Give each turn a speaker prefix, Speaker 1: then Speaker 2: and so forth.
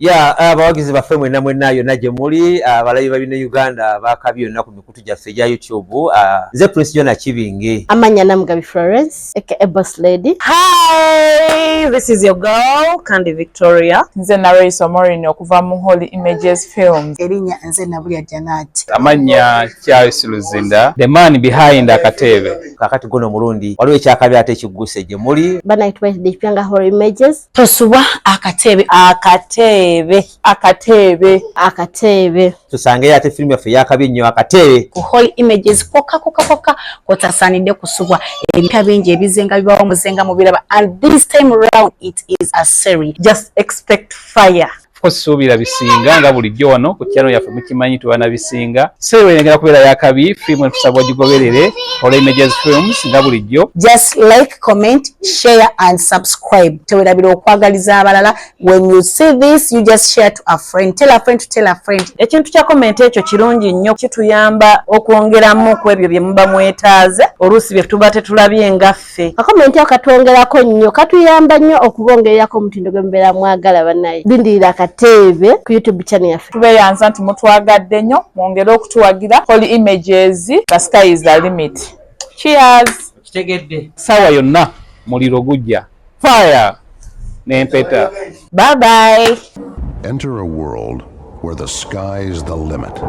Speaker 1: ya eh, abawagizi baffe mwena mwena yonna gye muli eh, abalabi ba bino uganda bakabi yonna ku mikutu gyaffe egya youtube eh, nze prince jona kibinge amanya namugabi
Speaker 2: florence aka ebos lady hi
Speaker 3: this is your girl kandi victoria nze nareyisa
Speaker 4: morin okuva mu holy images films erinya nze nabulya
Speaker 5: janat amanya
Speaker 6: charles luzinda the man behind akateebe kakati guno omulundi
Speaker 1: waliwo ekyakabi ate ekigguse gye muli banaitwa ekipyanga
Speaker 2: holy images tosubwa
Speaker 5: akateebe akateebe akateebe akateebe tusangeyo ate firimu yaffe
Speaker 1: yakabi nnyo akateebe ku hall images
Speaker 5: kokka kokka kokka kotasaanidde kusubwa ebika bingi ebizenga bibawo muzenga mubiraba and this time round it is a sery just expect
Speaker 3: fire course suubira
Speaker 6: bisinga nga bulijjo wano ku channel yaffe mukimanyi tubana bisinga seewe yengera kubeera yakabi film entusaba ogigoberere ola images films nga bulijjo just like
Speaker 5: comment share and subscribe tewerabira okwagaliza abalala when you see this you just share to a friend tell a friend to tell a friend ekintu kya comment
Speaker 3: ekyo kirungi nnyo kituyamba okwongeramu ku ebyo bye muba mwetaaze oluusi bye tuba tetulabye nga ffe akakomenti akatwongerako
Speaker 2: nnyo katuyamba nnyo okubongererako omutindo gwe mubeera mwagala banaye lindirira akateebe ku youtube channel yaffe tubeyanza nti mutwagadde
Speaker 4: nnyo mwongere okutuwagira holy images the sky is the limit cheers kitegedde
Speaker 1: sawa yonna
Speaker 6: muliro gujja fire n'empeta bye
Speaker 7: bye
Speaker 3: enter
Speaker 7: a world where the sky is
Speaker 3: the
Speaker 7: limit